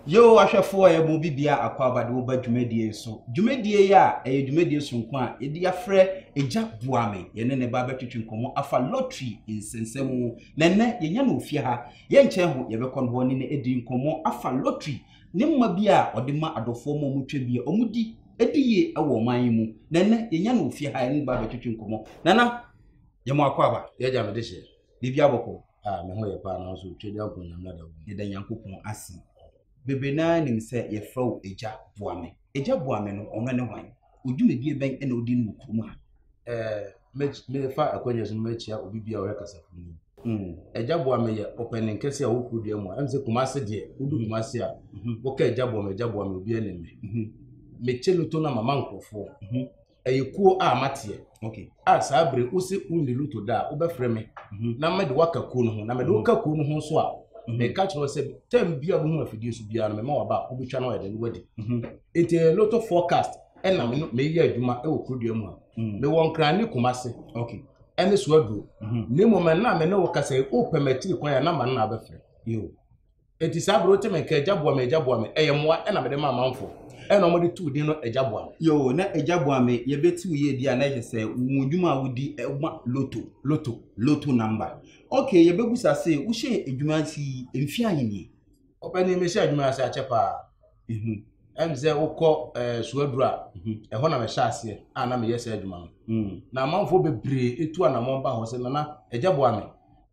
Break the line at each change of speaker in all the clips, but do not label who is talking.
Yehowa ahwɛfoɔ a ɛmu bibia akwaaba de wo ba dwumadie yi so. Dwumadie yi a ɛyɛ dwumadie soronko a yɛde afrɛ Agya Boa Me. Yɛne ne ba bɛtwetwe nkɔmmɔ afa lottery nsɛnsɛm mu. Na ɛnnɛ yɛnya no wɔ fie ha. Yɛnkyɛn ho yɛbɛkɔ no hɔ ne no adi nkɔmmɔ afa lottery Ne mma bi a ɔde ma adɔfoɔ ma wɔtwa bi a wɔdi di yie wɔ ɔman yi mu. Na ɛnɛ yɛnya no wɔ fie ha yɛne no ba abɛtwetwe nkɔmmɔ. Nana, yɛma wakɔ aba. Yɛagya me de hyɛ.
Biribi abɔkɔ.
Ah, me ho yɛ paa nanso
twɛdi akɔ nyame ada wo. Yɛda Nyankopɔn
ase. Bebree no ara nim sɛ yɛfrɛ wo Agya Boame. Agya Boame no, ɔno ne hwan? Dwumadie bɛn na wodi no wɔ kurom ha? Ɛɛ,
mefa akwannya so no makyia obi bi a ɔyɛ kasafoni. Agya boa me yɛ ɔpanin kɛse a ɔwɔ kurodua mu a ɛm sɛ Kumase deɛ wodu Kumase a woka agya boa me agya boa me obi anim me mekyɛ loto na mama nkurɔfoɔ ɛyɛ kuo a mateɛ a saa
bere wo se
wonni loto da a wobɛfrɛ me mhm. na mede woaka kuo no ho na mede woka mhm. kuo no ho so a mhm. meka kyerɛ wo sɛ tam bi a wohu afidie so biara no mema waba a wobɛtwa no ayɛdɛ no wadi nti ɛyɛ loto forecast ɛna meyɛ adwuma wɔ kurodua mu a mewɔ nkra ne koma se ɛne
so aduro
na mmom ɛna me ne wo kasa wopɛ matiri kwan a na ma no na abɛfrɛ
Enti saa
bere wote me nka agya boa me agya boa me ɛyɛ mmoa ɛna mede ma amanfo ɛna wɔde too din no agya boa me. Yoo na agya boa
me yɛbɛtiw yɛ di a na ɛhyɛ sɛ wɔn adwuma a wodi ɛma loto loto loto number ok yɛbɛbusa se wohyɛɛ adwuma ase yi mfe ahe nie? Ɔpanin mehyɛɛ
adwuma yi ase akyɛ paa. Ɛne sɛ wokɔ suaduru a, ɛhɔ na mɛhyɛ aseɛ a na meyɛ saa adwuma no. Na amanfoɔ bebree tu anammɔn ba hɔ sɛ, Nana, agya boa me,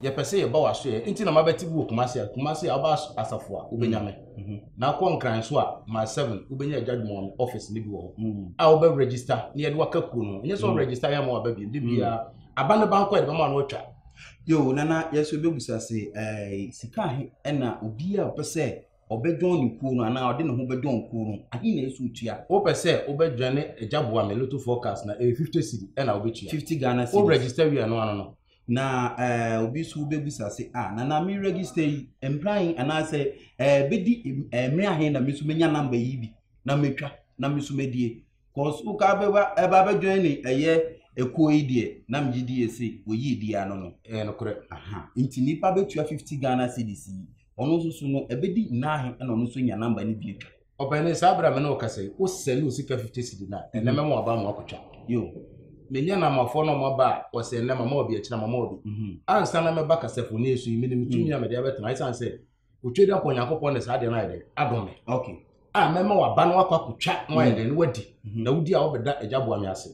yɛpɛ sɛ yɛba w'asoɛeɛ nti na mabɛte bi wɔ Kumasi a, Kumasi a woba asafo a, wobɛnya me. Na wokɔ Nkran nso a, Mile 7, wobɛnya agya adwuma wɔn office no bi wɔ hɔ a wobɛ register na yɛde waka kuo no ho. Ɛnyɛ sɛ wo register yɛ ama waba bio, da biara aba no ba nko a yɛde bɛma wo na watwa. Yoo, Nana,
yɛn nso yɛbɛbisa se, sika he na obiara a ɔpɛ sɛ Ɔbɛdɔn ne kuo no anaa ɔde ne ho bɛdɔn kuo no, ahe na ɛsɛ ɔtua? Wopɛ sɛ wobɛdwane
Agya boa me Lotto forecast no a, ɛyɛ 50 cedi ɛna wobɛtua. 50 Ghana cedis. Wo register
wie a ɛno ano
no. Na eh,
obi nso bɛbusa se, ah, nana me register yi, mmerɛ ahe anaasɛ eh, bɛdi eh, mmerɛ ahe na me nso mɛnya namba yi bi na matwa na me nso madie. Cause wo ka bɛba ɛba bɛ join ne ɛyɛ ekuo yi deɛ na megye di yɛ se wɔyii di ano no. Ɛyɛ nokorɛ. Aha
nti nipa
bɛtua fifty Ghana cedis yi ɔno nso so no ɛbɛdi naahe ɛna ɔno nso nya number no bi atwa. Ɔpɛni saa bere a me
ne wo kasa yi wo sɛne wo sika fifty cedi no a ɛnɛ mɛma waba ama wakɔtwa. Yo.
Menya namafoɔ
na wɔn aba a wɔsɛ ɛnɛ mama obi akyina mama obi. Ansa na mɛba kasafoni so yi menim tumi a mede abɛtena ɛsiane sɛ otwa dɛ akɔ nyankopɔn ne saa deɛ no ayɛ dɛn adom me okay a
mɛma waba
no akɔ akɔtwa na wayɛ dɛn na wadi mhm. na wodi a wobɛda agya boa me ase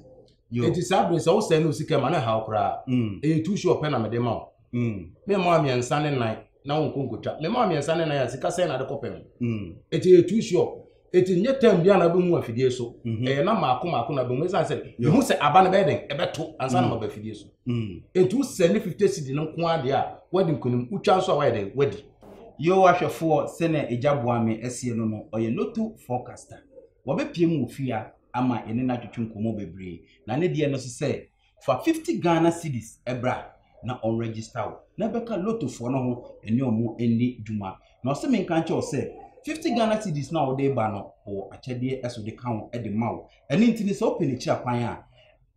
enti saa bere sɛ wosɛe ne osika ma ne haw koraa mm. ɛyɛ tu so ɔpɛ na mede ma wo mm. mema mmiɛnsa ne nan na wonkɔ nkɔtwa mema mmiɛnsa ne nan a sika sɛn na de kɔpɛ ho mm. ɛti ɛyɛ tu so Eti nyɛ tɛm biara na wobɛhu afidie so. Mhm. Ɛyɛ na maako maako na bɛhu ɛsiane sɛ mehu sɛ aba no bɛyɛ dɛn ɛbɛto ansa na mm. maba afidie so. Mm. Enti wosɛ ne 50 cedi no nko adeɛ a woadi nkonim wotwa nso a woayɛ dɛn woadi. Yehowa hwɛfoɔ
sɛnea agya boa me asie no no, ɔyɛ loto forecaster. Wɔbɛpie mu wɔ fie a ama yɛne no atwetwe nkɔmmɔ bebree. Na ne deɛ no so sɛ Fa fifty Ghana cedis bra na ɔn register wo na bɛka lotto foɔ no ho ɛne ɔmo ɛndi dwuma. Na ɔse me nka nkyɛ wo sɛ fifty Ghana cedis no a wode ba no ɔwɔ akyɛdeɛ ɛso de ka ho ɛde ma wo. Ɛno nti no sɛ wopɛ n'akyira kwan a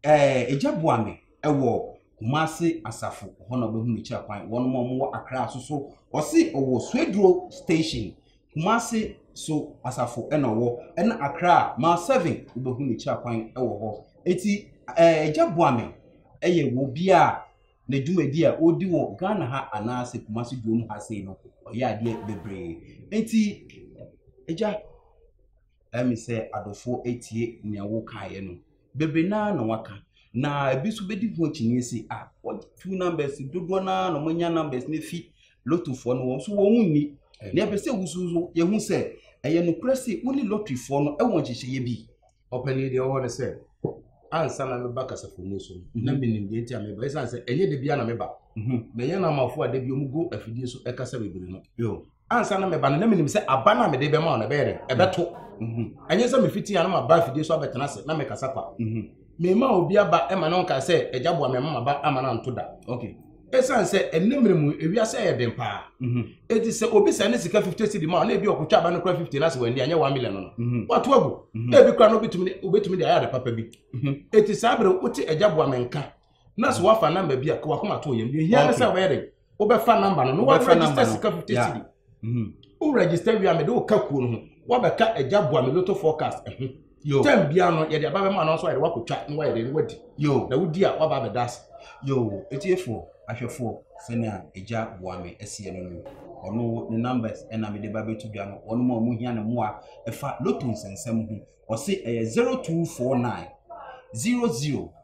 ɛɛ egya boa me ɛwɔ Kumasi asafo hɔ na wobɛhu n'akyira kwan. Wɔnom a ɔmo wɔ Accra soso ɔse ɔwɔ Swedru station. Kumasi so asafo na ɔwɔ ɛna Accra a mile seven wobɛhu ne kyira kwan wɔ hɔ eti ɛɛ Agya Boame ɛyɛ wɔ obi a ne dwumadi a ɔredi wɔ Ghana ha anaasɛ Kumasi Duom ha sei no ɔyɛ adeɛ bebree eti Agya Ɛyɛ me sɛ adɔfoɔ atie nea wokaeɛ no. Bebree no ara na wɔaka. Na ebi nso bɛdi ho akyinnye se, ah, wɔatu numbers, dodoɔ no ara na wɔanya numbers no afi lotofoɔ no hɔ nso wɔn nni. Na yɛpɛ sɛ wusu nso yɛhu sɛ ɛyɛ nokorɛ se wo ne lɔtirifoɔ no wɔ nhyehyɛeɛ bi. Ɔpanin deɛ ɔwɔ ne
sɛ ansa na meba kasafo mu so mhm. na menim deɛ nti a meba ɛsiane sɛ ɛnyɛ da bia na meba mhm. na ɛyɛ na amafoɔ a da bi ɔmugu afidie so ɛkasa bebree no ansa na meba
no na
menim sɛ aba no a mede bɛma wo no ɛbɛyɛ dɛn ɛbɛto ɛnyɛ sɛ mefiti a na maba afidie so abɛtena ase na mekasa kwa mema obi aba ma no nkae sɛ agya boa mema maba ama no anto da ɛsiane
sɛ ɛnɛ
mmerɛ mu ewiase ɛyɛ den paa ɛti sɛ obi sɛ ne sika 50 cedi ma na ebi ɔkotwa aba no kora 50 no ase wɔ ani anyɛ 1 million no wato agu na ebi kora no wobɛtumi de ayɛ ade papa bi ɛti saa berɛ wote agya boa me nka na so wafa namba bi a ka wakoma to yɛm deɛ hia ne sɛ wobɛyɛ dɛ wobɛfa namba no na waregister sika fifty cedi mhm. wo register wia mede wo ka kuo no ho wabɛka agya boa me loto forecast ɛho eh, tɛm bia no yɛde aba bɛma no nso ayɛde wakɔtwa na wayɛ dɛ no wadi na wodi a waba abɛda ase yo ɛtiefoɔ
ahwɛfoɔ sɛnea agya boa me ɛseɛ no no ɔno ne numbers ɛna mede ba bɛto dwa no wɔn mu a wɔn hia ne mmoa ɛfa loto nsɛnsɛm ho ɔse ɛyɛ zero two four nine zero zero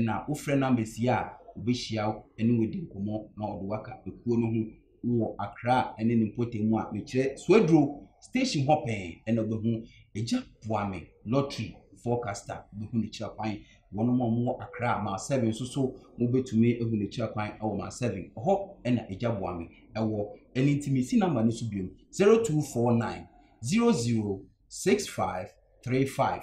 na wofrɛ no amasia a, obehyia wo ne wo adi nkɔmmɔ na ɔde waka ekuo no ho wɔ Accra ne ne mpɔtam mu a mekyerɛ Soaduro station hɔ pɛn na wobɛhu Agya Boame lottery forecaster wobɛhu ne kyerɛ kwan wɔn a wɔwɔ Accra ma seven nso so wobɛtumi ahu ne kyerɛ kwan wɔ ma seven hɔ na Agya Boame ɛwɔ ɛne nti mesi namba no so biom 0249 006535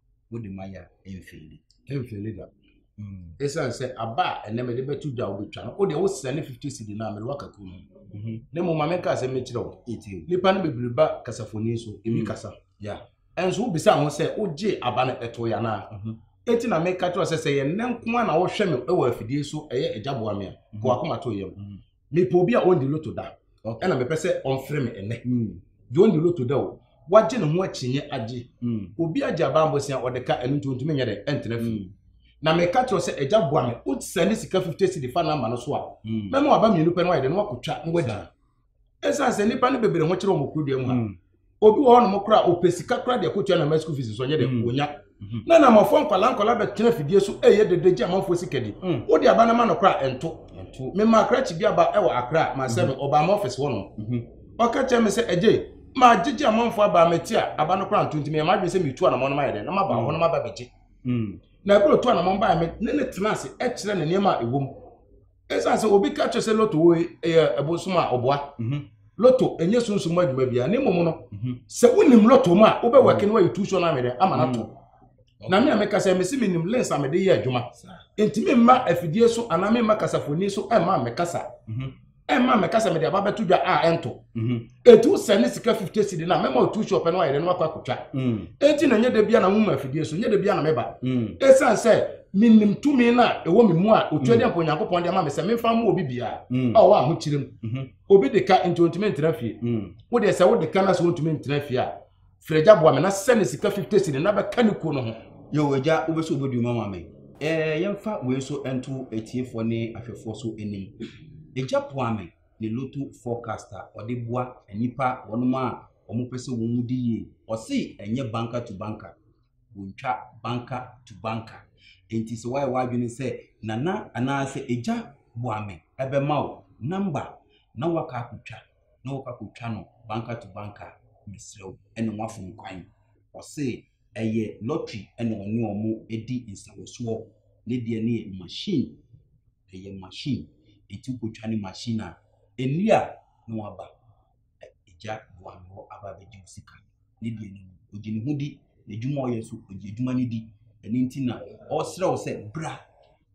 wode ma yɛ a ɛmfeeli ɛmfeeli da
ɛsiane sɛ aba a ɛnɛ mede bɛto dwa wobɛtwa no wode wosɛ ne 50 cedi no a mede waka kuo no na mmom ma menka sɛ mekyerɛ wo nnipa no bebree ba kasafoni so ɛmi kasa ɛnso
wobisa ho
sɛ wogye aba no ɛto yɛ anaa ɛti na meka kyerɛ sɛ sɛ yɛ nnɛ nko a na wohwɛ me wɔ afidie so ɛyɛ agya boa me a kɔakoma to yam mepɛ obi a ɔndi loto da ɛna mepɛ sɛ ɔmfrɛ me ɛnɛ hmm. deɛ ɔndi loto da o wagye ne ho akyinnye agye hmm. obi agye abambosia ɔde ka ɛno nti ɔntumi nyɛ dɛ ɛntena fie hmm. na meka kyerɛ sɛ agya boa me wosɛ ne sika 50 cedi fa no ama no so a mɛma waba mmienu pɛ no wayɛ dɛ no wakɔtwa na wadi ɛsiane sɛ nnipa no bebree ho kyerɛ wɔn kuro dua mu ha obi wɔ hɔ nom koraa ɔpɛ sika koraa deɛ kɔtua na ma school fees nso ɔnyɛ dɛ mm. ɔnya mm-hmm. na namafoɔ nkwadaa nkwadaa bɛtena fidie so ɛyɛ dede gye amanfoɔ sika di mm. wode aba no ma no koraa ɛnto mema akra kyi bi aba ɛwɔ akra ma sɛ me mm-hmm. ɔbaa ma ɔfɛs hɔ nom mm-hmm. ɔka kyerɛ me sɛ ɛgye ma gyegye amanfoɔ aba mete a aba no koraa nto nti meyɛ madwene sɛ metu anamɔ no mayɛ dɛ na maba hɔ no maba bɛgye na ɛberɛ ɔtu anamɔ mbaeɛ me ne ne tena ase ɛkyerɛ ne nneɛma a ɛwɔ mu ɛsiane sɛ obi ka kyerɛ sɛ loto wei ɛyɛ ɛbosom a ɔboa mhm. loto ɛnyɛ sunsun mu adwuma biara ne mmom no mhm. sɛ wonim loto mu a wobɛwɛke mhm. no ayɛ tuusuo no amedɛ ama no ato na me a meka sɛ mese menim lens a mede yɛ adwuma nti memma afidie so anaa memma kasafoni so ɛmma mekasa ɛmma mekasa mede aba bɛto dwa a ɛnto etu sɛ ne sika fifty cedi na mɛma otu shop no ayɛ dɛ na wakɔ akotwa mm. eti na nyɛ dɛ bia na ho mu afidie so nyɛ dɛ bia na mɛba mm. esan sɛ menim tumi no a ɛwɔ me mu a ɔtua mm. deɛ mpo onyankopɔn de ama me sɛ memfa mma obi biara a ɔwɔ ahokyerɛ mu mm-hmm. obi de ka nti ɔntumi ntena fie wodeɛ sɛ wode ka no sɛ wontumi ntena fie a frɛgya boa me na sɛ ne sika fifty cedi na bɛka ne kuo no ho yɛ wagya wobɛsɛ
wobɛdi ma ma me yɛmfa wei nso nto atiefoɔ ne ahwɛfoɔ so anim ɛgya poa me ne loto forecast a ɔde boa nnipa wɔnom a wɔn pɛ sɛ wɔn di yie. Ɔse ɛnyɛ banker to banker. Wɔntwa banker to banker. Nti sɛ wayɛ w'adwene sɛ nana anaasɛ agya boame ɛbɛma wo number na waka akotwa na wɔkɔ akotwa no banker to banker mesrɛ wo ɛne wafom kwan. Ɔse. Ɛyɛ lottery na ɔne wɔn di nsawɔsoɔ. Ne deɛ no yɛ machine, ɛyɛ machine. Ɛti wokɔtwa ne machine a, ɛnni a na waba. Agya boa me hɔ aba abɛgye wo sika. Ne deɛ no, ɔgye ne ho di. N'adwuma a ɔyɛ nso, ɔgye adwuma no di. Ɛno nti na ɔresrɛ wo sɛ bra.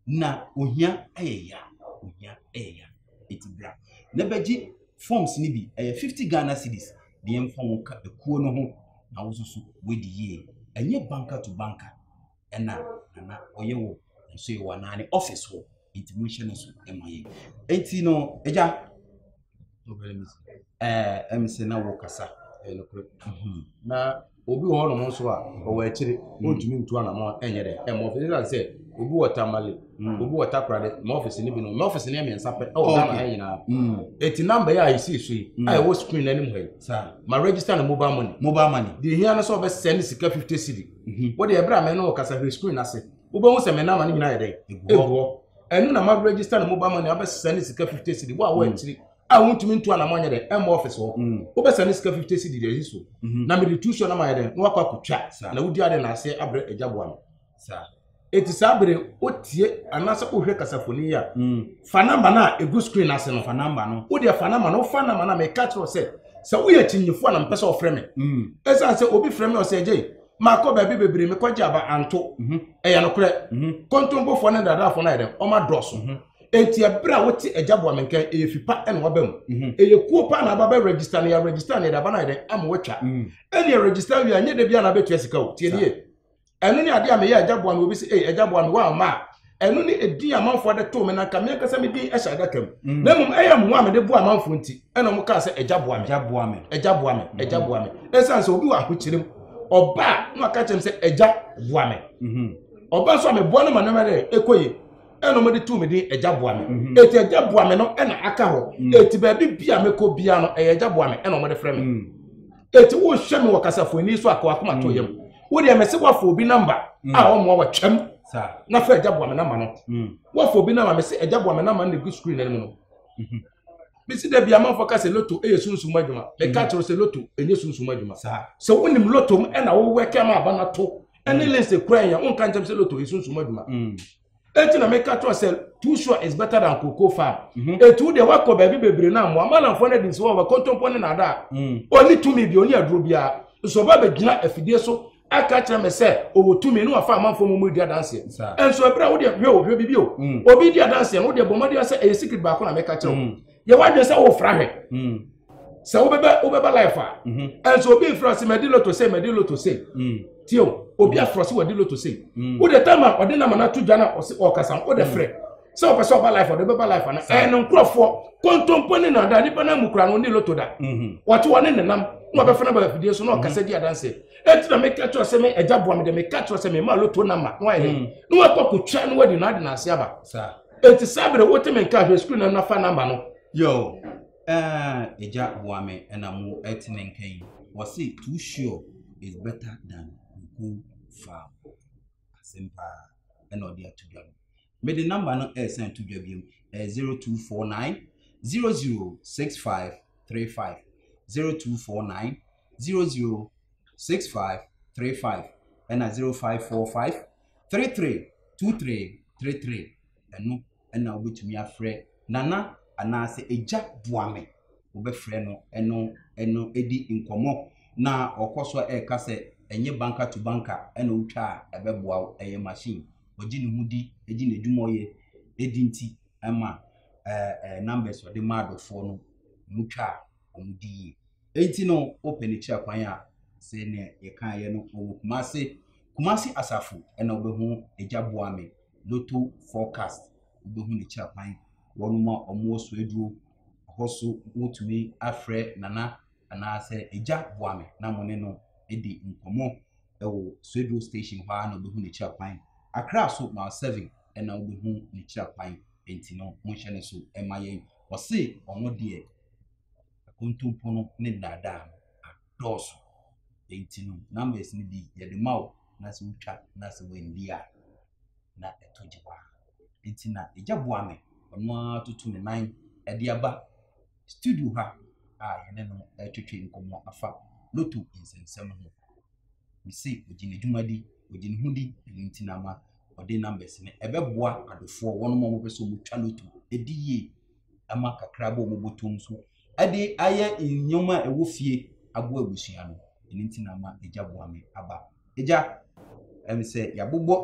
na ohia yɛ ya ohia yɛ ya eti bra na bɛgye forms no bi ɛyɛ fifty ghana cedis deɛ nfa wɔn ka ekuo no ho na wososo wadi yie ɛnyɛ banka to banka ɛna nana ɔyɛ wɔ nso yɛ wɔ anaa ne office hɔ eti mo nhyɛ no so ɛma yɛ eti no ɛgya. ɛm sɛ na wokasa ɛyɛ nokorɛ mhm.
na obi wɔ hɔnom nso a ɔwɔ akyire ɔntumi mm. ntu anamɔ ɛnyɛ dɛ ɛmɔ ɔfisi ɛsan sɛ obi wɔ tamale mm. obi wɔ takorade ma ɔfisi no bi no ma ɔfisi no yɛ mmiɛnsa pɛ ɛwɔ ghana ha nyinaa ɛti mm. namba yɛ a ɛsii so yi a ɛwɔ screen no anim ha yi ma register no mobile money mobile money deɛ hia no sɛ ɔbɛsɛ ne sika 50 cedi wode ɛberɛ a mɛne ɔkasa hwɛ screen ase wobɛhu sɛ me nama no nyinaa yɛ dɛn ɛguɔ ɛno na ma register no mobile money abɛsesa ne sika 50 cedi wo a wɔ akyiri a wontumi ntu anamɔ nyɛ dɛn ɛmmɔ ɔfis hɔ wobɛsa ne sika 50 cedi deɛ ɛsi so na mede tu so na mayɛ dɛn na wakɔ akɔtwa na wodi ade na aseɛ abrɛ agya boa no
ɛti saa
bere wotie anaasɛ wohwɛ kasafoni yi a fa namba no a ɛgu screen ase no fa namba no wodeɛ
fa namba no wofa
namba no a meka kyerɛ sɛ sɛ woyɛ kyinyifoɔ na mepɛ sɛ ɔfrɛ me ɛsiane sɛ obi frɛ me ɔsɛ agyei Makɔ baabi bebree, mekɔgye aba anto. Mhm. Ɛyɛ nokorɛ. Mhm. Kontompofoɔ ne nnadaafoɔ no ayɛ dɛn? Wɔn adɔɔso. Mhm. Enti ɛberɛ a wote agya boa me nkan, ɛyɛ fi pa na waba mu. Mhm. Ɛyɛ kuo paa na aba bɛ register no, yɛ register no, yɛde aba no ayɛ dɛn? Ama watwa. Mhm. Ɛnneɛ register awie a, nyɛ da biara na abɛtua sika o. Tie nie. Ɛno ne adeɛ a meyɛ agya boa me, obi se, ei agya boa me, woamma a, ɛno ne ɛdin amanfoɔ de too me na nka me ankasa me din hyɛ adaka mu mm. na mmom ɛyɛ mmoa mede boa amanfoɔ nti ɛna ɔmo kaa sɛ agya boa me agya boa me agya boa me agya mm-hmm. boa me ɛsiane sɛ obi wɔ ahokyere mu ɔba a na ɔka kyerɛ me sɛ agya boa me mm-hmm. ɔba nso a meboa no ma no ma dɛ ɛkɔ yie ɛna ɔmo de tu mi din ɛgya boa mi mhm. eti ɛgya boa mi no ɛna aka hɔ mhm. eti baabi bia mi kɔ bia no ɛyɛ ɛgya boa mi ɛna ɔmo de frɛ mi. Mhm. eti wohwɛ me wɔ kasafo ani so akɔ akoma to yam wo deɛ mɛsɛ woafa obi namba a ɔmmoa wɔ twɛm na fa agya boa me namba no woafa obi namba mɛsɛ agya boa me namba no gu screen anim no mesi da bia manfo ka sɛ loto ɛyɛ sunsum adwuma meka kyerɛ sɛ loto ɛnyɛ sunsum adwuma sɛ wonim loto m ɛna wowɛkɛ ma aba no to ɛne lense kura yɛ wonka nkyɛm sɛ loto yɛ sunsum adwuma eti na meka kyerɛ sɛ too sure is better than cocoa farm mhm. etu deɛ wakɔ baabi bebree na mmoa malamfoɔ no adi nsi wɔ wɔkɔntɔmpɔ ne nada a ɔni mhm. tumi bi ɔni aduro biara nso ɔba bɛgyina afidie so aka kyerɛ me sɛ ɔwɔ tumi ne wafa amanfoɔ mu mu di adanseɛ nso ɛberɛ a wodeɛ hwɛ ohwɛ bibi o mhm. obi di adanseɛ no wodeɛ bɔ mmɔden sɛ ɛyɛ secret baako na meka kyerɛ wo yɛ wadwene sɛ wofra hwɛ sɛ wobɛbɛ wobɛba life a ɛnso mhm. obi nfura ase mɛdi loto se mɛdi loto se mm. tiɛ o obi mm. afura se wɔdi loto se mm. o de tɛm a ɔde nam anato dwa na ɔsi ɔkasa o de frɛ sɛ ɔpɛ sɛ ɔba life ɔde bɛba life ana ɛyɛ ne nkorɔfoɔ kontompo ne na da nipa na mu kura no ne loto da mhm. wɔte wɔ ne nenam na ɔbɛfɛ no ba afidie so na mhm. ɔkasa di adanse eti na meka kyerɛ sɛ me ɛgya boa me de meka kyerɛ sɛ me ma loto nama na wayɛ na wakɔ kotwa na wadi na adi na ase aba eti saa bere wote me nka ahwɛ sukuu na nafa nama no yoo.
Aah Agya boa me na mo ɛte ne nka yi. Wɔse too sure is better than kuku farm. Asɛm paa ɛna ɔde ato dwa no. Mede number no ɛresan to dwa biom ɛyɛ 0249 006535 0249 006535 ɛna 0545 332333 ɛno na wobɛtumi afrɛ Nana anaasɛ Agya boa me. Wobɛfrɛ no ɛno ɛno ɛdi nkɔmmɔ na ɔkɔ so a ɛreka sɛ ɛnyɛ banka to banka ɛna wotwa a ɛbɛboa wo, ɛyɛ machine. Ɔgye ne ho di, ɛgye n'adwuma ɔyɛ ɛdi nti ɛma ɛɛ ɛɛ numbers ɔde ma adɔfoɔ no mu twa a wɔn di yie. Ɛnti no wopɛ ne kyerɛ kwan a sɛ ne yɛkaeɛ no ɔwɔ Kumase, Kumasi Asafo ɛna wobɛhu Agya boa me. Lotto forecast wobɛhu ne kyerɛ kwan. Wɔnom a wɔn wɔ Soaduro hɔ so mo tumi afrɛ Nana anaa sɛ Agya boa me na mo ne no adi nkɔmɔ ɛwɔ Soaduro station hɔ ara na wobɛhu ne kyerɛ kwan. Accra so mile seven ɛna wobɛhu ne kyerɛ kwan nti no mo nhyɛ ne so ɛma yɛn. Ɔse ɔno deɛ akontompo no ne nnaadaa no. dɔɔso. Enti no, numbers no bi yɛde ma wo na sɛ wotwa na sɛ wandi a na ɛtɔ gye paa. Enti na egya boa me, ɔno ara toto ne nan de aba studio ha a yɛne no retwetwe nkɔmmɔ afa loto nsɛnsɛm ho. Mese ɔgye ne dwumadi, ɔgye ne ho di, ɛno nti na ama ɔde numbers no ɛbɛboa adofoɔ wɔn a wɔpɛ sɛ wɔtwa loto ɛdi yie ɛma kakra bɔ wɔn bɔtɔm so de ayɛ nneɛma a ɛwɔ fie aboa abusua no. Ɛno nti na ama Agya Boa Me aba. Agya, ɛne sɛ yɛabobɔ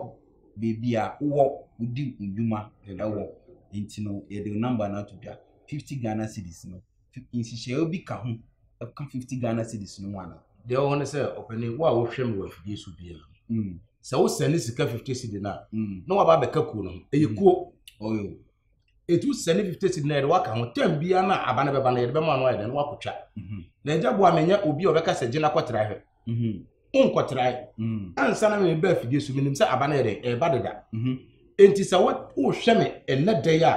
baabi a wowɔ wodi wo nnwuma wɔ, nti no yɛde wo number no ato dwa. Fifty Ghana cedis no, nhyehyɛeɛ bi ka ho ka fifty Ghana cedis no ho anaa? Deɛ ɛwɔ hɔ ne sɛ,
ɔpanin, wo a wohwɛ me wɔ afidie so biara no, sɛ wosɛne sika fifty cedi no a, na woaba abɛka kuo no ho. Ɛyɛ kuo.
ɛtu sɛ
ne fifty cedi na yɛde waka ho tam biara no a aba no bɛba no yɛde bɛma no ayɛ dɛ no wakɔtwa mhm. na agya boa menyɛ obi a ɔbɛka sɛ gyina kɔtra hwɛ mhm. wonkɔtrae mhm. ansa na meba afidie so menim sɛ aba no yɛ dɛ ɛba deda enti sɛ wohwɛ me ɛnɛ dɛ a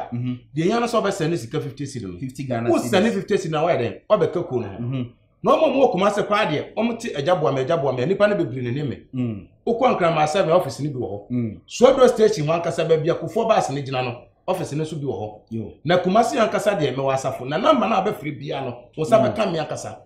deɛ nya no sɛ wobɛsɛne sika fifty cedi no wosɛne
fifty cedi no a woayɛ
dɛn wabɛka kuo no ho na wɔn a wɔwɔ kumase paa deɛ wɔn te agya boa me agya boa me nipa no bebree ne ne me mm. wokɔ nkraman sɛ na ɔfisi no bi wɔ hɔ mm. suaduro station wɔn ankasa baabi akofoɔ baasi no gyina no ɔfisi no nso bi wɔ hɔ na kumase ankasa deɛ mɛwɔ asafo na namba no a bɛfiri bia no wɔn nsa mm. bɛka me ankasa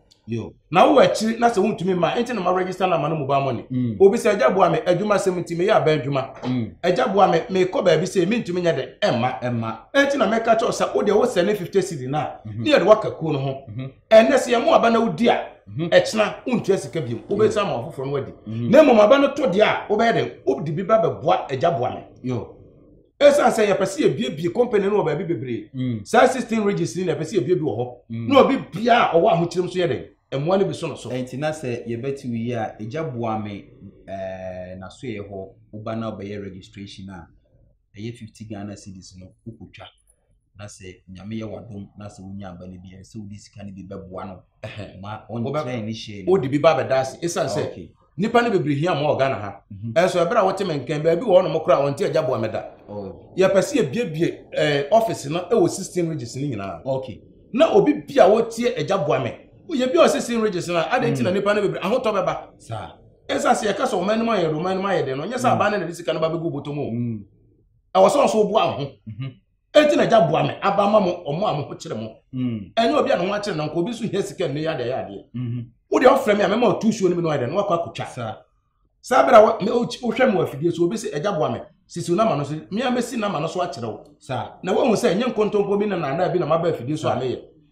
na wowɔ akyiri na sɛ wontumi ma ɛnti na ma register na ma no mobile money mm. obi sɛ agya boa me adwuma sɛm nti meyɛ aba adwuma mm. agya boa me mekɔ baabi sɛ mentumi nyɛ dɛ ɛmma ɛmma ɛnti na mɛka kyɛw sɛ wodeɛ wosɛ ne 50 cedi no a mhm. ne yɛde woaka kuo no ho mhm. ɛnɛ sɛ yɛn mu aba na wodi a mhm. ɛkyena wontua sika biom wobɛsa ma ɔfoforɔ no adi mhm. na mmom aba no to deɛ a wobɛyɛ dɛn wode bi ba bɛboa agya boa me ɛsiane sɛ yɛpɛ sɛ yɛbiebie company no wɔ baabi bebree mm. saa 16 regis ni na yɛpɛ sɛ yɛbiebie wɔ hɔ mm. na obi bia a ɔwɔ ahokyerɛm so yɛ dɛn mmoa no bi so no so ɛnti na sɛ yɛbɛte
wo yi a agya boa me nasoɛ hɔ woba na wobɛyɛ registration a ɛyɛ fifty Ghana cedis no wokɔtwa na sɛ nyame yɛ wadom na sɛ wonya aba no bi ɛyɛ sɛ wode sika no bi bɛboa no ma ɔnkyerɛ ne hyɛ wode bi ba bɛda ase
ɛsiane sɛ okay. nipa no bebree hia ma wɔ Ghana ha mhm. ɛnso ɛberɛ a wɔte me nkɛn baabi wɔ ɔnom koraa wɔnte agya boa mɛda oh. yɛpɛ sɛ yɛbiebie eh, office no ɛwɔ sixteen regions no nyinaa okay. na obi bi a wɔtie agya boa me yɛbi ɔ sixteen regions no a adɛn nti na mhm. nipa no bebree ahotɔ bɛba saa ɛsiane sɛ yɛka sɛ ɔman no mu ayɛ dɛ ɔman no mu ayɛ dɛ no nyɛ sɛ mm. aban no na de sika no ba bɛgu bɔtɔ mu o mm. ɛwɔ sɛ ɔso boa wo ho mhm. ɛnti na gya boa me aba ma mo ɔmo a mo ho kyerɛ mo mm. ɛnyɛ obi a ne ho akyerɛ nanka obi nso hia sika nnɛ yɛ adeɛ yɛ adeɛ mhm. wodeɛ ɔfrɛ me a mɛma ɔtu suo no mi no ayɛ dɛ no wakɔ akotwa saa berɛ a wohwɛ me wɔ afidie so obi sɛ agya boa me sisiw nama no so mmea mesi nama no so akyerɛ wo na woahu sɛ ɛnyɛ nkontompo bi na naadaa bi na maba afidie so a meyɛ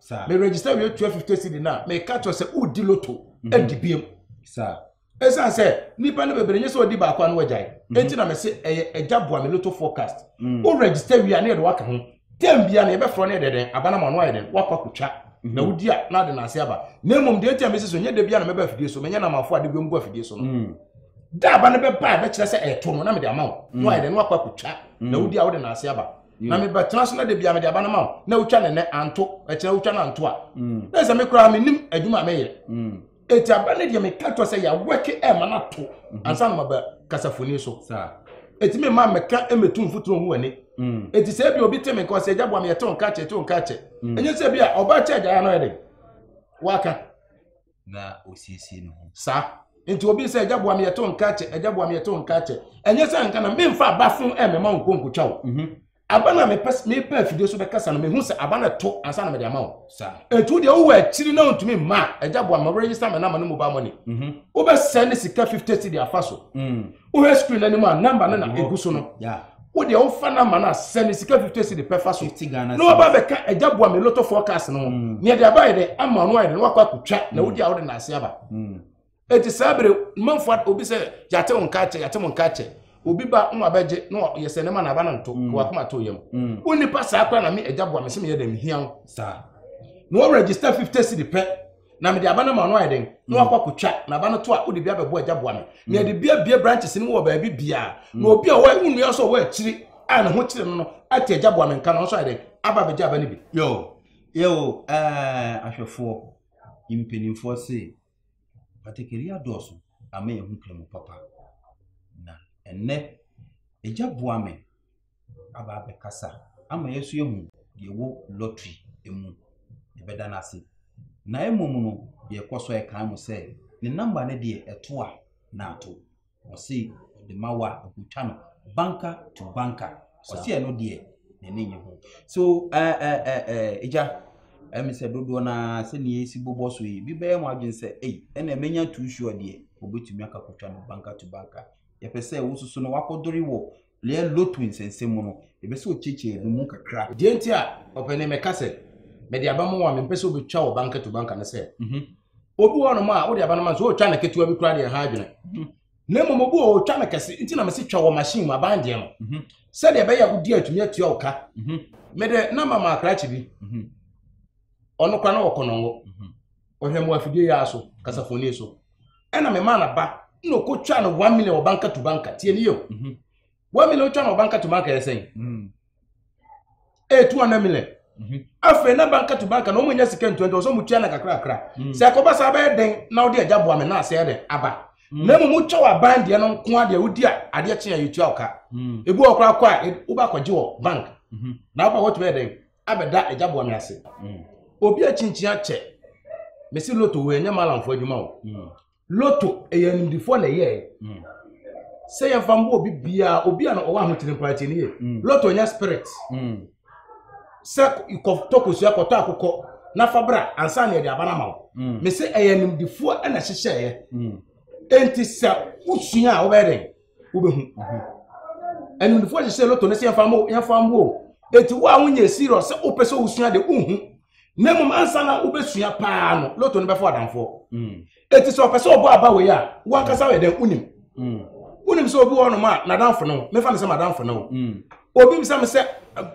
Sir. Me register wie tua fifty cedi na meka kyerɛ sɛ wodi loto mhm. adi biem. Sir. ɛsiane sɛ nipa no bebree nye sɛ ɔdi baako ano agyae mhm. enti na mese ɛyɛ agya boa me loto forecast mm. wo register wie a ne yɛde waka ho tɛm bia na yɛbɛfrɛ no yɛde dɛn abana ma ɔno ayɛ dɛn woakɔ akɔtwa mhm. na wodi a na ade na ase aba na mmom deɛ enti a mese so nyɛ da bia na mɛba afidie so menyɛ na amafo ade biom gu afidie so no mm. da aba no bɛba a bɛkyerɛ sɛ ɛto no na mede ama wo na ayɛ dɛn na woakɔ akɔtwa na wodi a wode na ase aba na mm. mebɛtena so na da bia mede aba no ma wo na wotwa ne nɛ anto ɛkyerɛ wotwa no anto a mm. na sɛ me koraa menim adwuma a meyɛ mm. ɛti aba no deɛ meka kyerɛ sɛ yɛawɛke ɛma no ato mhm. ansa no maba kasafoni so ɛti me ma mɛka mɛtu mfotoro hu ani ɛti sɛ bi obi te me nka ɔsɛ agya boa meyɛte wo nka kyɛ te wo nka kyɛ ɛnyɛ sɛ bi a ɔba kyɛ agyaeɛ no yɛ den waka na
ɔsiesie ne ho saa nti
obi sɛ agya boa me yɛto nka kyɛ agya boa me yɛto nka kyɛ ɛnyɛ sɛ nka na memfa aba fo ɛmɛma wo nkonkotwa wo mhm. aba na mepɛ afidie so bɛkasa no mehu sɛ aba na to ansa na mede ama wo ɛnti wodeɛ wowɔ akyiri na wontumi mma agya boa ma werɛyisa me nama no mobile money mhm. wobɛsɛ ne sika 50 cedi afa so mm. wohwɛ screen no anim a namba no na ɛgu so no wodeɛ wofa namba no a sɛ ne sika 50 si de pɛfa so na waba bɛka agya boa me lotto forecast no ho mm. neɛ de aba yɛ dɛ ama no ayɛ dɛ na wakɔ akɔtwa na mm. wodi a wode naase aba mm. enti saa bere manfoɔ obi sɛ yɛate wo nka kyɛ yɛate mo nka kyɛ obi ba na wabɛgye na yɛsɛ ne ma na aba no nto na wakoma to yam wo nipa saa kora na me agya boa me sɛ meyɛ dɛ mehia wo na wɔregister 50 si de pɛ na mede aba no ama ɔno ayɛ den na wakɔ akɔtwa na aba no to a wode bi abɛbɔ agya boa me na yɛde bi abie branches no mu wɔ baabi biara na obi a ɔwɔ nnua nso ɔwɔ akyiri a ne ho kyerɛ no no ate agya boa me nka no nso ayɛ den aba abɛgya aba no bi yo yo
ɛɛ ahwɛfoɔ mpanimfoɔ se patakari adɔɔso ama yɛn ho kura mu papa na ɛnɛ agya boa me aba abɛkasa ama yɛn nso yɛahu deɛ ɛwɔ lottery mu. Yɛbɛda no ase. Na mmom no, yɛkɔ so ɛkan mo sɛ ne namba no deɛ ɛto a na ato. Ɔse ɔde ma wo a ɛkɔtwa no banka to banka. Ɔse ɛno deɛ n'ani nye ho. So ɛɛ ɛɛ ɛɛ ɛgya ɛmi sɛ dodoɔ na sɛ nea esi bobɔ so yi bi bɛyɛ mo adwene sɛ ei ɛna ɛmɛnya too sure deɛ obetumi akakɔtwa no banka to banka. Yɛpɛ sɛ wososo no wakɔdore wɔ Lea lotu nsɛnsɛm mu no, yɛpɛ sɛ ɔkyerɛkyerɛ yɛn mu kakra. Deɛ nti a ɔpɛ
ne mɛka sɛ mede aba ma wo a mempɛ sɛ wobɛtwa wo banka to banka ne sɛ mhm. obi wɔ hɔnom a wode aba no ma no sɛ ɔtwa no ketewa bi koraa deɛ ha adwene mhm. na mmom obi wɔ ɔtwa no kɛse nti na mese twa wɔ machine mu aban deɛ no mhm. sɛdeɛ ɛbɛyɛ a wodi atumi atua wo ka mede na mama akrakye bi ɔno kora na ɔkɔnɔngo Ɔhwɛ mu afidie yɛ aso kasafoni so. Ɛna me maa n'aba na ɔkɔ twa no one million wɔ banka to banka tie ne yɛ o. Mhm. One million twa no wɔ banka to banka yɛ sɛn? Mm. Ɛyɛ two hundred million. Mhm. Afei na banka to banka na wɔn nyɛ sika ntua nti ɔsɛ wɔn tua na kakra kakra. Mm. Sɛ ɛkɔba saa bɛyɛ den na wɔde ɛgya boa me na asɛ ɛdɛ aba. Mm. Na mmom wotwa wɔ aban deɛ no nko adeɛ wodi a adeɛ kyen a yɛtua ɔka. Mm. Ebi wɔ koraa kɔ a wobɛ akɔgye wɔ bank. Mhm. Na wobɛ wɔtumi ɛdɛn abɛda agya bɔne ase obi akyinkyin akyɛ mesi loto wɔ ɛnyɛ malamfo adwuma o mm. loto ɛyɛ animdifoɔ na ɛyɛɛ mm. sɛ yɛmfa mbɔ obi biara obi a na ɔwɔ ahotene mpo akyɛ ne yɛ mm. loto ɛnyɛ spirit sɛ kɔtɔ kosua kɔtɔ akokɔ na fa bra ansa na yɛde aba no ama wo mesi ɛyɛ animdifoɔ na ɛhyehyɛeɛ enti sɛ wosua a wobɛyɛ dɛn wobɛhu animdefoɔ hyehyɛ loto no sɛ yɛmfa mo yɛmfa mo o eti wo a wonyɛ serious sɛ wopɛ sɛ wosua de wohu na mmom ansa na wobɛsua paa no loto no bɛfo adamfoɔ mm. eti sɛ ɔpɛ sɛ ɔbɔ aba wei a wankasa yɛ dɛn wonim mm. wonim sɛ obi wɔ nom a n'adamfo no mefa no sɛ m'adamfo no mm. obi bisa me sɛ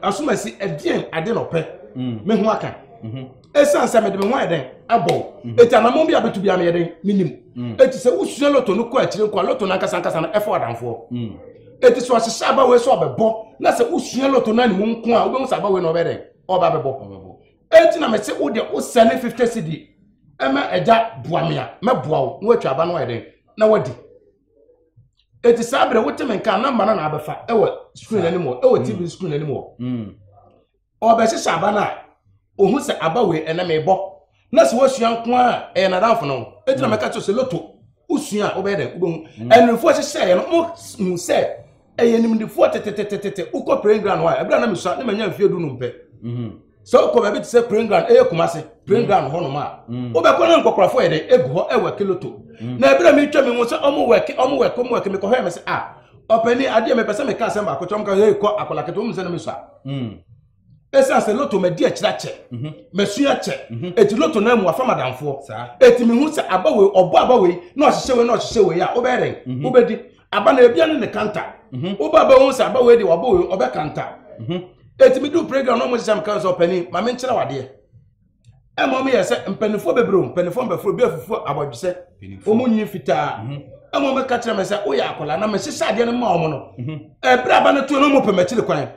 asomasi ɛdeɛn ade na ɔpɛ mm. me ho aka ɛsiane mhm. sɛ mede me ho ayɛ dɛn abɔ ɛti mhm. anamɔ bi a bɛtu bia meyɛ dɛn menim ɛti mm. sɛ wosua loto no kɔ akyire nkɔ loto no ankasa ankasa no ɛfa ɔdamfoɔ mm. ɛti so ɔhyehyɛ aba wei sɛ ɔbɛbɔ na sɛ wosua loto no animu nko a wobɛhu sɛ aba wei na ɔbɛ dɛn ɔba bɛbɔ ɛti na mese wode wosɛ ne 50 cedi ɛma ɛgya boa me a mɛboa wo na woatwa aba no ayɛ dɛn na wadi eti saa bere wote me nka namba no na abɛfa ɛwɔ screen anim hɔ ɛwɔ tv mm. screen anim hɔ mm. ɔbɛhyehyɛ aba no a ohun sɛ aba wei ɛnam ɛbɔ na sɛ wɔsua nko a ɛyɛ nadamfo no eti na mm. mɛka kyerɛ sɛ loto wosua a wobɛyɛ dɛ wobɛhu ɛnumfoɔ hyehyɛ yɛ no mo hu sɛ ɛyɛ nimdifoɔ tetetetete wokɔ praying ground hɔ a ɛbɛrɛ na mesua ne manya mfie du no mpɛ mm-hmm. sɛ wokɔ baabi te sɛ praying ground ɛyɛ kuma se praying mm. ground hɔnom a mm. wobɛkɔ no nkɔkorɔfo yɛ dɛn ɛgu hɔ ɛwɔ kiloto mm. na ɛberɛ metwa me ho sɛ ɔmo wɛke ɔmo wɛke ɔmo wɛke mekɔhwɛ me sɛ a ah, ɔpani adeɛ mepɛ sɛ meka asɛm baako kyɛ ɔmo ka hei kɔ akɔlakete wɔm sɛ no mesua ɛsiane sɛ loto madi akyirɛ akyɛ mhm. masua akyɛ ɛti mhm. loto no amu afa madamfoɔ ɛti mehu sɛ aba wei ɔbɔ aba wei na ɔhyehyɛ wei na ɔhyehyɛ wei a wobɛyɛ dɛn mhm. wobɛdi aba na ebia ne ne kanta mhm. wo ba bɛhu sɛ aba wei de wabɔ wei ɔbɛ kanta ɛtumi mhm. du program na ɔmɔgye sɛ meka sɛ ɔpani ma menkyerɛ wadeɛ ɛma ɔmo yɛ sɛ mpanimfoɔ bebree o mpanimfoɔ mbɛforo bi afufuo abɔdwesɛ ɔmo nyi fitaa mhm. ɛma ɔmo ka kyerɛ me sɛ woyɛ akwadaa na mehyehyɛ adeɛ no ma ɔmo no ɛberɛ aba no to no ɔmo pɛ m'akyiri kwan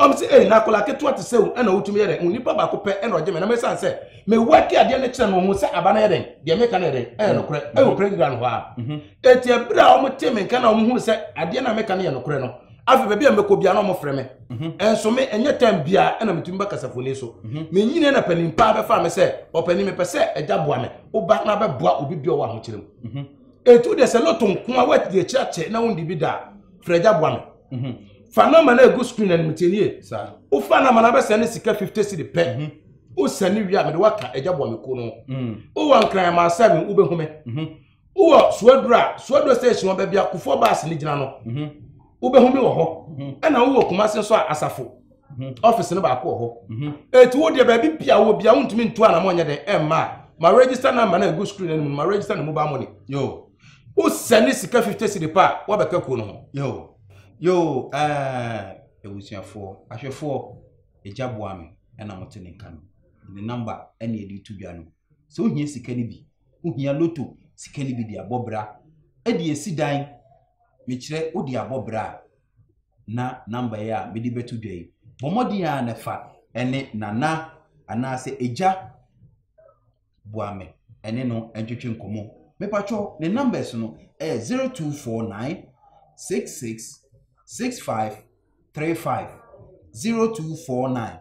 ɔmo sɛ ɛyi na akwadaa ketewa te sɛ wo ɛna wotumi yɛ dɛ nipa baako pɛ ɛna ɔgye me na mesan sɛ mewɔ ake adeɛ no kyerɛ no ho sɛ aba no yɛ dɛn deɛ meka no yɛ dɛn ɛyɛ nokorɛ ɛwɔ program hɔ a Eti ebere a wɔn te me nka na wɔn hu sɛ adeɛ na meka no yɛ nokorɛ no, afei baabi a mɛkɔ bia na wɔn frɛ me. Ɛnso mhm. me ɛnyɛ tɛm bia ɛna metumi ba kasafoni so. Mhm. Me nyini na panin paa bɛfa me sɛ ɔpanin mepɛ sɛ ɛgya boa me, woba na bɛboa obi bi ɔwɔ ahokyere mu. Mhm. Etu deɛ sɛ loto nko a wɔadi akyire akyɛ na wɔn di bi da frɛ ɛgya boa me. Fa nɔma na egu screen na nimitiɛ nie. Wofa nɔma na bɛsɛn ne sika fifty cedi pɛ. Wosɛn ne wie a mede waka ɛgya boa me kuo no. Wowɔ nkran ma asɛm wobɛhu me. wowɔ suaduro a suaduro station ɔbɛ bi akofoɔ baas ne gyina no mhm. wobɛhu mi wɔ hɔ mhm. ɛna wowɔ kumase nso a asafo mhm. ɔfisi no baako wɔ hɔ ɛti wo deɛ baabi bia wɔ bia wontumi ntu anamɔ nyɛ dɛn ɛmma a ma register number na ɛgu screen anim ma register ne mobile money yo wosɛne sika 50 cedi pa a woabɛka kuo no ho yo yo abusuafoɔ eh, ahwɛfoɔ ɛgya boa me ɛna mote ne nka no ne number ɛne ɛde to dwa no sɛ wohia sika no bi Wohia lotto sika no bi de abɔ bra. Ɛde asi dan. Mekyerɛ, wode abɔ bra a, na number yi a mede bɛto dwa yi, bɔ mmɔden ara na fa ne Nana anaasɛ Agya Boame ne no ntwetwe nkɔmmɔ. Mepakyɛw, ne numbers no yɛ 0249 66 65 35 0249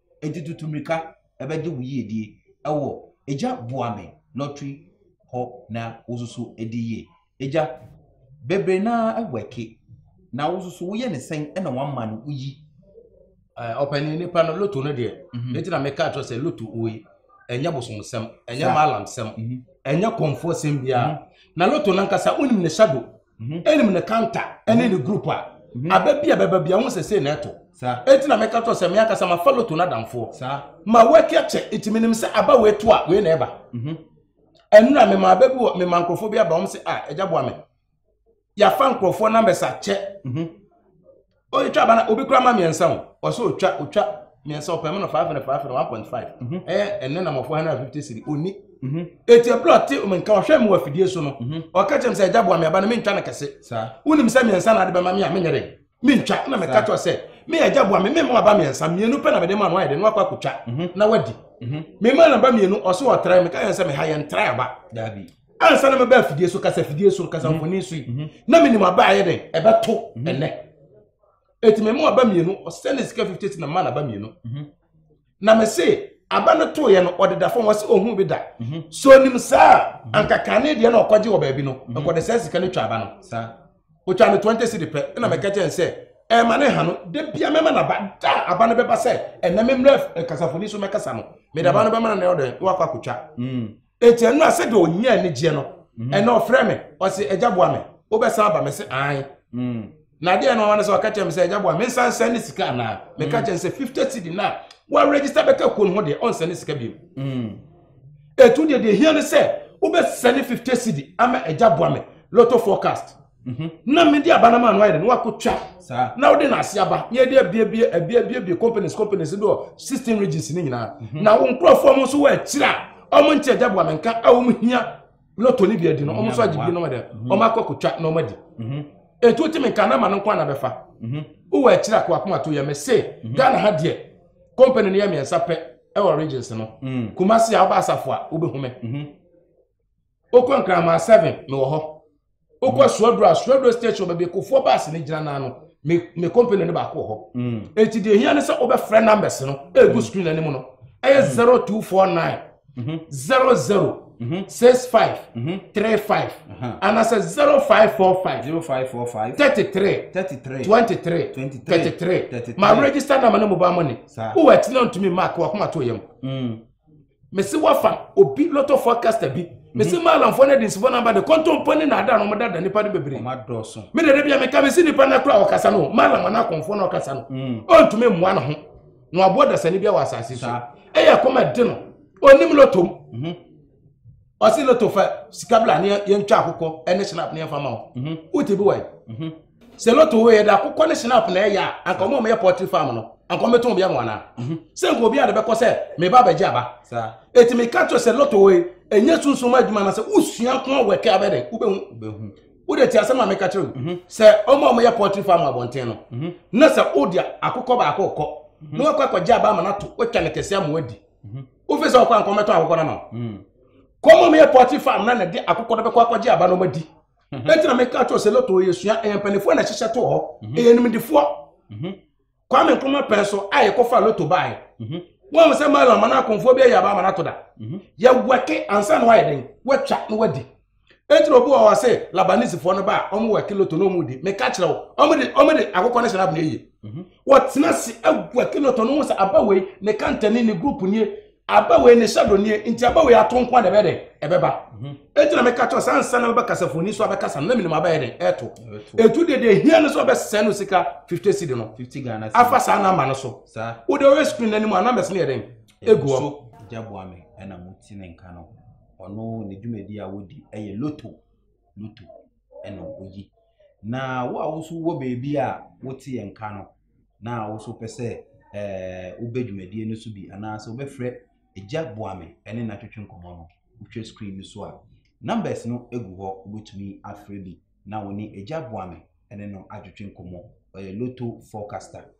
Enti tutu mmirika bɛgye wo yiedie wɔ Agya boa me lottery hɔ na wo nso so di yie. Agya, bebree no ara wɛke na wo nso so woyɛ ne sɛn na woama no woyi? Ɔpanin nipa no loto no deɛ, mhm. ne ti na meka kyerɛ sɛ loto wei ɛnyɛ bosomsɛm, ɛnyɛ maalamsɛm, mhm. ɛnyɛ kɔnfoɔ sɛm biara. Mhm. Na loto no ankasa wonim ne hyɛ do. ɛnim mhm. ne kanta ɛne ne mhm. group a mhm. aba bi a bɛba bi ɛho sɛ sei na ɛto ɛti na meka tɔ sɛ me ankasa ma fa loto no adamfoɔ ma waki akyɛ ɛti menim sɛ aba wei to a wei na ɛba ɛnura mema aba bi wɔ mema nkurɔfoɔ bi aba wɔn sɛ a ah, ɛgya boa me yɛafa nkurɔfoɔ numbers akyɛ oyi twa bana obi kura ma mmiɛnsa o ɔsɛ otwa otwa mmiɛnsa ɔpɛ mu no five hundred five hundred one point five mhm. ɛyɛ ɛnɛ na mɔfo hundred fifty siri oni mhm. eti ebile ɔte nka ɔhwɛ mu wɔ afidie so no mhm. ɔka kyerɛ mi sɛ ɛgya bu ami aba no mi ntwa no kɛse wunim sɛ mmiɛnsa na ade bɛma mi a mi nyɛ dɛ mi ntwa ɛna mi ka kyerɛ sɛ mi yɛ ɛgya bu ami mi mu aba mmiɛnsa mmienu pɛ na mi de ma no ayɛ dɛ no akɔ akotwa na wadi mi ma na ba mmienu ɔso ɔtra mi ka yɛn sɛ mi ha yɛn tra aba daabi. ansa
na mɛba afidie
so kasa fidie so kasa mhm. mfoni so yi mhm. na menim aba ayɛ dɛn ɛbɛto mhm. ɛnɛ ɛti mɛmu aba mmienu ɔsɛ ne sika 58 na ma na aba mmienu na mese aba no toeɛ no ɔdeda fam wɔsɛ ɔhu bi da so nim saa ankaka ne deɛ na ɔkɔgye wɔ baabi no nkɔde saa sika no twa aba no saa ɔtwa no 20 cedi pɛ ɛna mɛka kyɛn sɛ ɛma ne ha no da bia mɛma no aba da aba no bɛba sɛ ɛnɛ memmerɛ kasafoni so mɛkasa no mede aba no bɛma no na ɔdɛ na wakɔ akɔtwa Enti ɛno a sɛdeɛ ɔnya anigyeɛ no, mm-hmm. ɛnna ɔfrɛ me, ɔse, agya boa me, wobɛsan aba me se, ae. Mm. Na adeɛ no ɔma no sɛ ɔka kyerɛ me sɛ, agya boa me, nsan sɛn ne sika anaa? Meka mm. kyerɛ no sɛ, fifty cedi no a wɔaregister bɛka kuo no ho deɛ, ɔnsɛn ne sika bio. Mm. Ɛtu deɛ deɛ hia no sɛ, wobɛsɛne fifty cedi ama agya boa me, lotto forecast. Mhm. na mede aba no ma no ayɛ dɛ na wakɔtwa na wode no ase aba na yɛde abiabie abiabiabie companies companies bi wɔ sixteen regions no nyinaa mhm. na wo nkurɔfoɔ mo nso wɔ akyiri a ɔmo nte agya boa menka a ɔmo hia lotto no bi adi no ɔmo nso agye bi no dɛ mhm. ɔmo akɔ akɔtwa na ɔmo adi ɛnti mhm. wotumi nka na ma no nko ana bɛfa wowɔ akyiri a koakoma to yɛ me se ghana ha deɛ company no yɛ mmiɛnsa pɛ ɛwɔ regions no mm. kumase a wobɛ asafo a wobɛhu me wokɔ nkraman seven mewɔ hɔ wokɔ suaduro a suaduro station baabi kofoɔ baase no gyina naa no me me company no baako wɔ hɔ eti deɛ ehia ne sɛ wobɛfrɛ numbers no egu screen anim no ɛyɛ zero two four nine zero zero six five three five anaasɛ zero five four five zero five four five thirty three thirty three twenty three thirty three ma register number ne mobile money wowɔ ɛtena ntumi mark wakoma to yam. mese wafa obi lot of forecaster bi mese mhm. maalamfoɔ no adensifoɔ no aba de kɔntɔmpɔ ne naada no ɔmada da nipa no bebree me dede bia meka mese nipa no akora ɔkasa no maalam ana akɔmfoɔ no ɔkasa no mm. ɔntumi mmoa no ho na waboa dasani bi wɔ asase so ɛyɛ kɔma de no ɔnim lɔtom mhm. ɔsi loto fɛ sika bila ne yɛn twa akokɔ ne snap ne yɛn fa ma o mhm. o ti bi wa yi mhm. sɛ loto wo yɛ de akokɔ ne snap na ɛyɛ a anka ɔmo a ɔmo yɛ pɔtri farm no anka ɔmo tɔn bi ama wɔn ana mhm. sɛ nka obi a de bɛ kɔ sɛ mɛ ba bɛ gye aba eti mi ka kyerɛ sɛ loto wo yi enye sunsun adwuma na sɛ usua kɔn wɔ ɛkɛ abɛ dɛ wo bɛ hu wo de ti asɛm a mi ka kyerɛ o sɛ ɔmo a ɔmo yɛ pɔtri farm abɔnten no na sɛ o de akokɔ baako kɔ na wakɔ akɔ gye aba ama na to watwa ne kɛse ama wadi wofi sɛ ɔkɔ ankɔ mɛtɔ akokɔ no ma hmm. kɔmɔ meyɛ pɔte farm na nɛde akokɔ no bɛkɔ akɔgye aba no madi mhm. ɛnti na meka kyɛw sɛ lotto yɛ sua ɛyɛ mpanifoɔ na ɛhyehyɛ to hɔ mhm. ɛyɛ nimdifoɔ mhm. kwame nkrumah pɛn so a yɛkɔfa lotto baeɛ wɔn sɛ mala ma no akɔmfoɔ bi ayɛ aba ama no ato da yɛwɛke ansa na wayɛ den watwa na wadi ɛnti na obi wɔ hɔ se labanisefoɔ no ba a wɔn wɔ akiloto na wɔn di meka kyerɛ wo wɔn de wɔn de akokɔ ne srab na ɛyɛ mhm. wɔtena se agu akiloto no ho sɛ aba wei ne kantani ne group nie aba wei ne shadow nie nti aba wei ato nko a na ɛbɛ dɛ ɛbɛba mhm. ɛnti na meka kyerɛ saa nsa na bɛba kasafoni so abɛkasa no na menim abɛyɛ dɛ ɛto ɛtu deɛ deɛ hia no so abɛsɛn no sika 50 cedi no afa saa na ama no so wode ɔyɛ screen no anim a numbers no yɛ dɛn ɛgu hɔ
ɔno ne dwumadi a wodi yɛ loto loto na oyi na wo a woso wɔ baabi a wote yɛn nka no na woso pɛ sɛ ɛɛ wobɛ dwumadie no so bi anaasɛ wobɛfrɛ agya boame ne n'atwetwe nkɔmɔ no wohwɛ screen no so a numbers no egu hɔ wobɛtumi afrɛ bi na wo ne agya boame ne no atwetwe nkɔmɔ ɔyɛ loto forecaster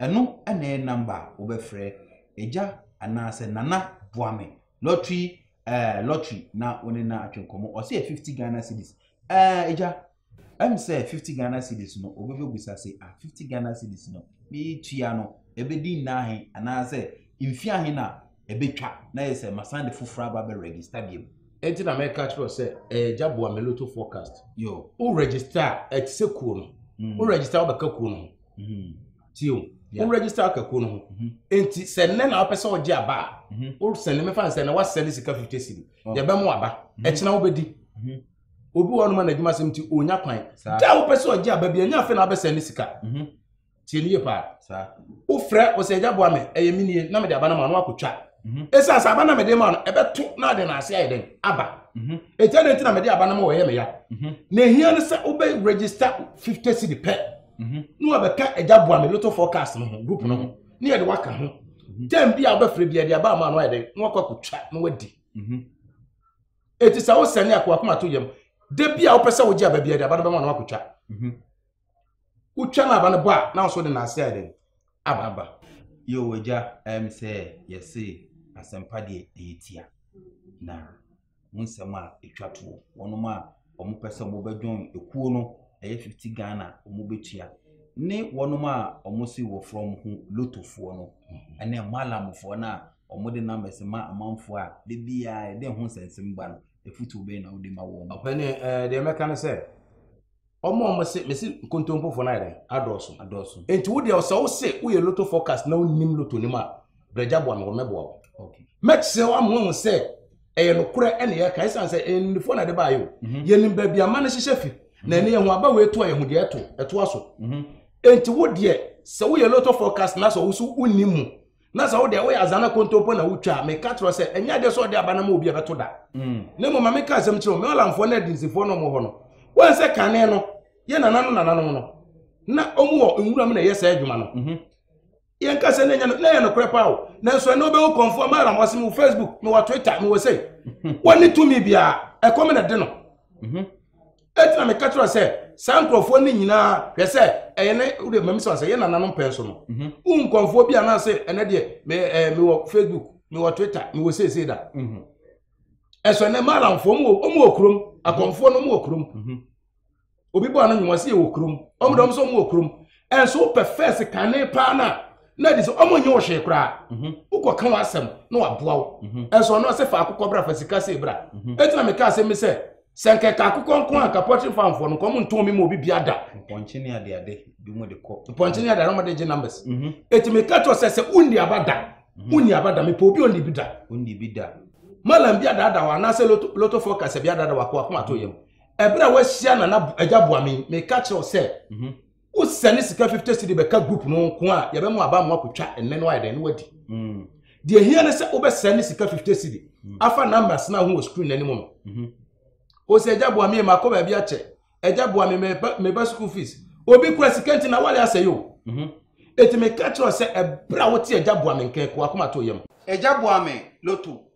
Ɛno na ɛyɛ number a wobɛfrɛ Agya anaasɛ Nana boa me lottery ɛɛ eh, lottery na wo ne na atwe nkɔmmɔ. Ɔsɛ yɛ fifty Ghana cedis. Ɛɛ eh, Agya, ɛm sɛ fifty Ghana cedis no wobɛbɛbusa se ah fifty Ghana cedis no metua no ɛbɛdi nna ahe anaasɛ mfe ahe na ɛbɛtwa na yɛ sɛ masan de foforɔ aba bɛ register biom. Ɛnti na mɛka kyerɛ
sɛ ɛyɛ eh, Agya boa me lotto forecast. Yo. Wo register a ɛte sɛ kuo no. Mm. Wo register wobɛka kuo no ho. Hmm. Ti o, wo register akakuo no ho. Hmm. Nti sɛ nnɛ na wopɛ sɛ ɔgye aba a, hmm. wo sɛne mefa nsɛ na wasɛne sika 50 siri. Oh. Yɛbɛmo aba. Ɛkyena wobɛdi. Obi wɔ ɔnoma n'adwuma sɛm nti ɔnya kwan. Da wopɛ sɛ ɔgye aba bi, ɛnyɛ afei na wabɛsɛne sika. Tie ne yie paa. Wofrɛ ɔsɛ agya boa me, ɛyɛ me nie, na mede aba no ma no akɔtwa. Ɛsiane sɛ aba na mede ma no, ɛbɛto na ade na ase ayɛ dɛn? Aba. Mhm. ɛgya ne nti na mede aba no ma wɔyɛ me ya mhm. na ɛhia no sɛ wobɛ register 50 cedi pɛ mhm. ne wabɛka agya boa me lotto forecast no ho group no ho ne yɛde waka ho mhm. term bi a wobɛfrɛ bi ɛde aba ama no ayɛ dɛ na wakɔ akɔtwa na wadi ɛti mhm. sɛ wo sɛne akowakoma to yam da bi a wopɛ sɛ wogye aba bi ɛde aba no bɛma na wakɔtwa wotwa no aba no bɔ a na nso de naase ayɛ dɛn aba. Yoo agya
ɛm sɛ yɛse asɛmpa deɛ ɛyɛ tia na wo nsɛm a ɛtwa toɔ wɔnom a wɔn pɛ sɛ wɔn bɛ join ekuo no ɛyɛ 50 Ghana wɔn bɛ tua ne wɔnom a wɔn se wɔ from ho lotofoɔ no ɛne mhm. malamfoɔ no a wɔn de numbers ma amanfoɔ a de biara ɛde ho nsɛnsɛm ba no efutuo bɛyɛ na wɔde ma wɔn. ɔpɛni ɛɛ deɛ mɛka
no sɛ wɔn a wɔn se mesi nkontompofo no ayɛ dɛn adɔɔso adɔɔso nti wo deɛ sɛ wo se woyɛ loto forecast na wonim loto nim a brɛgya boa me wɔmɛboa wo mɛkyerɛ
wo ama wahu
sɛ ɛyɛ nokorɛ ɛne yɛka ɛsiane sɛ ɛyɛ nimdefoɔ na ɛde baayɛ o mhm. yɛnim baabi ama no hyehyɛ fi mhm. na ɛne yɛho aba wei to a yɛho deɛ ɛto ɛtoa so mhm. nti wo deɛ sɛ woyɛ loto forecast na sɛ wo so wonim mu na sɛ wode woyɛ azana kontompo na wotwa a meka kyerɛ sɛ ɛnyɛ adeɛ sɛ ɔde aba no ma obi ɛbɛto da mm. na mmom ma meka asɛm kyerɛ me ɔlamfoɔ no adinsifoɔ no hɔ no wɔn sɛ kane no yɛ nana no nananom no na ɔmu wɔ nwura mu na ɛyɛ saa adwuma no mhm. yɛnka sɛ na ɛyɛ nokorɛ paa o nanso ɛne wobɛwo kɔmfoɔ ma alam ɔse mewɔ facebook mewɔ twitter mewɔ sei mhm. wɔne tumi biaa ɛkɔm na de no mhm. Enti na meka kyerɛ sɛ saa nkurɔfoɔ no nyinaa hwɛ sɛ ɛyɛ ne wode mami sɛ sɛ yɛ nananom pɛn so no mhm. wo nkɔmfoɔ bi anaasɛ ɛnɛ deɛ eh, mewɔ facebook mewɔ twitter mewɔ seesei da mhm. ɛsɛ ɛnɛ malamfoɔ ɔmu wɔ kurom akɔmfoɔ no ɔmu wɔ kurom mhm. obi bɔ ano nwuma sɛ yɛwɔ kurom ɔmo dɛ ɔmo sɛ ɔmo wɔ kurom ɛnso wopɛ fɛs kane paa no a na adi sɛ ɔmo nyɛ wo hwee koraa mhm. wokɔ ka w'asɛm na waboa wo mhm. ɛnso ɔno ɔsɛ fa akokɔ bra fa sika sei bra mhm. ɛti na meka asɛm bi sɛ sɛ nkɛka akokɔ nko a nka pɔtwe fanfoɔ no nkɔm ntɔn mi ma obi bia da mpɔnkye ne adeade
bi mu de kɔ mpɔnkye ne adeade ɔmo de gye
numbers ɛti meka kyerɛ sɛ sɛ wonni aba da wonni aba da mepɛ obi onni bi da onni bi da malam bi adada wa anaasɛ loto loto forecast bi adada wa kɔ akoma to yam ɛberɛ a wahyia nana agya boame meka kyerɛ wo sɛ mhm. wosɛne sika 50 cedi bɛka group no nko a yɛbɛma aba mo akɔtwa ɛnɛ no ayɛ dɛn no wadi mm. deɛ hia ne sɛ wobɛsɛne sika 50 cedi mm. afa numbers no aho wɔ screen no anim no mhm. o sɛ agya boame makɔ baabi akyɛ agya boame meba school fees obi kura sika nti na wale asɛe o mhm. ɛti meka kyerɛ sɛ ɛberɛ a wote agya boame nkɛn kɔ akoma to yam agya boame
loto